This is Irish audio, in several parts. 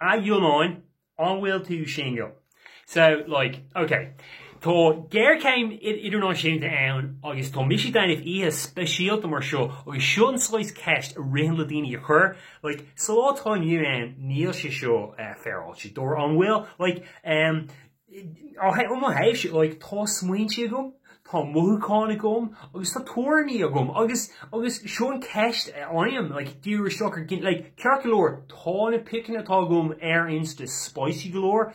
a Fhionáin, an bhfuil tú singil? So, like, ok, tá géarchéim idirnáisiúnta ann agus tá mise ag déanamh oíche speisialta mar seo agus seo an saghas ceist a ritheann le daoine a chur, like, sa lá atá inniu ann níl sé seo eh, féaráilte, dóibh, an bhfuil? Like, em, Ó mo thaobhse, like, tá smaointe agam, tá mothúcháin agam agus tá tuairimí agam agus agus seo an cheist a fhaighim, like, dáiríre, shocker, like. Ceart go leor, tá na piceanna atá agam ar Insta spicy go leor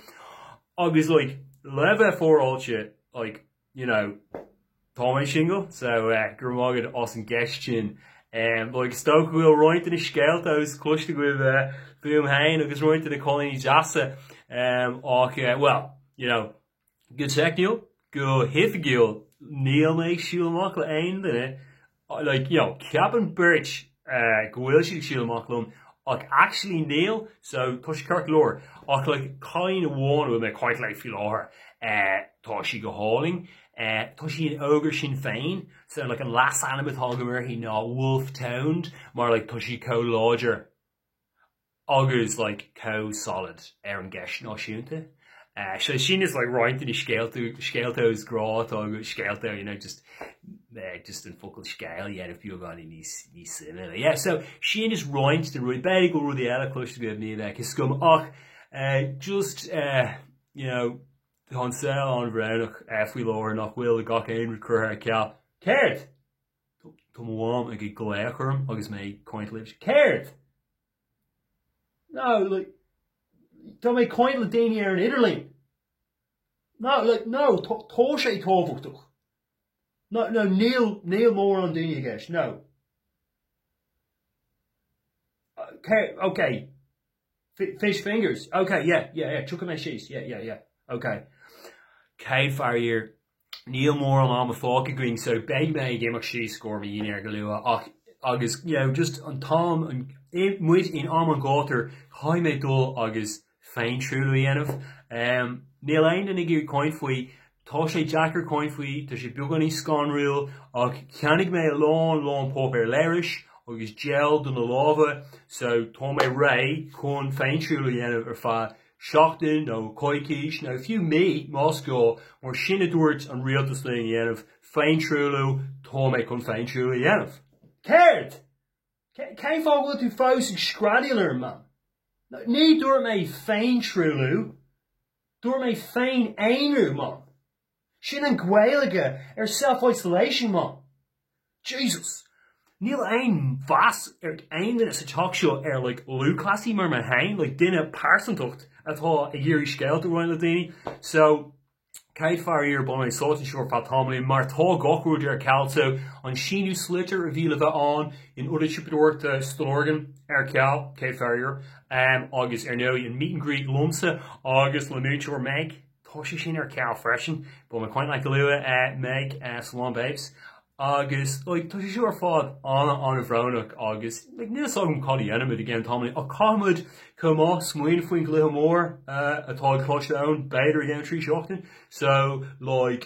agus like le bheith féaráilte, you know, tá mé singil, so go raibh maith agat as an gceist sin. Like, is dócha go bhfuil roinnt de na scéalta atá cloiste agaibh fúm féin agus roinnt de na cailíní deasa, ach, well, you know, go teicniúil, go hoifigiúil, níl mé ag siúl amach le haon duine like, you know, ceapann beirt go bhfuil siad ag siúl amach liom ach actually níl, so tá sé ceart go leor. Ach like, cailín amháin a bhfuil mé quite léi faoi láthair, eh, tá sí go hálainn, eh, tá sí in Ógra Sinn Féin, so like an leasainm atá agam uirthi ná Wolfe Toned mar like tá sí chomh láidir agus like chomh solid ar an gceist náisiúnta. So sin is like roinnt de na scéalta, scéalta grá atá agam, scéalta, you know, just just an focal scéal dhéanamh beagáinín níos suimiúla. Yeah, so sin is roinnt de na rudaí, b'fhéidir go bhfuil rudaí eile cloiste agaibh, níl a fhios agam ach uh, just uh, you know, tá an saol an-bhrónach uh, faoi láthair nach bhfuil, gach aon rud curtha ar ceal. Céard? Tá mo mham ag ag glaoch orm agus mé ag caint libh. Céard? No, like, tá mé ag caint le daoine ar an idirlíon. No, like, no, tá sé tábhachtach. No, no, níl, níl mórán daoine i gceist, no. Céard, ok, fish fingers, ok, yeah, yeah, yeah, tiocfaidh mé síos, yeah, yeah, yeah, ok. Céad faraor, Níl mórán ama fágtha againn so beidh mé ag imeacht síos i gcomhair mo dhinnéir go luath ach agus you know just an t-am, tá muid in am an ghátair caithfidh mé dul agus féintruailliú a dhéanamh. Em níl aon duine ag iarraidh caint faoi, tá sé deacair caint faoi, tá sé beagáinín scanrúil ach cheannaigh mé a lán lán páipéar leithris agus gel do na lámha so tá mé réidh chun féintruailliú a dhéanamh ar feadh Seachtain nó coicís, nó fiú mí, más gá, mar sin a dúirt an rialtas linn a dhéanamh, féintruailliú, tá mé chun féintruailliú a dhéanamh. Céard? Cén fáth bhfuil tú fós ag screadaíl orm, mam? Ní dúirt mé féintruailliú, dúirt mé féin-aonrú, mam. Sin an Gaeilge ar self-isolation, man. Jesus. Níl aon mheas ar aon duine sa teach seo ar like lúthchleasaí mar mé féin, like duine pearsantacht atá ag iarraidh scéalta a roinnt le daoine. So, Céad faraor beidh mé sáite anseo ar feadh tamaillín mar tá gach rud ar ceal. So, an síniú sliotair a bhí le bheith ann in Ionad Siopadóireachta Stillorgan ar ceal, céad faraor, um, agus ar ndóigh an meet and greet liomsa agus le múinteoir Meg. Tá sé sin ar ceal freisin. Beidh mé ag caint leat go luath, Meg, slán babes, agus like tá sé seo ar fad ana bhrónach agus like níl fhios agam cad a dhéanfaimid i gceann tamaill ach caithfimid chomh maith smaoineamh faoin gcluiche mór atá ag Coláiste Eoin b'fhéidir i gceann 3 seachtain so like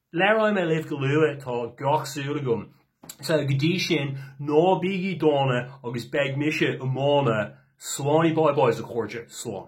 Labhróidh mé libh go luath, tá gach súil agam. So, go dtí sin, ná bígí dána agus beidh mise iomána. Slán i bye-bye, a chairde. Slán.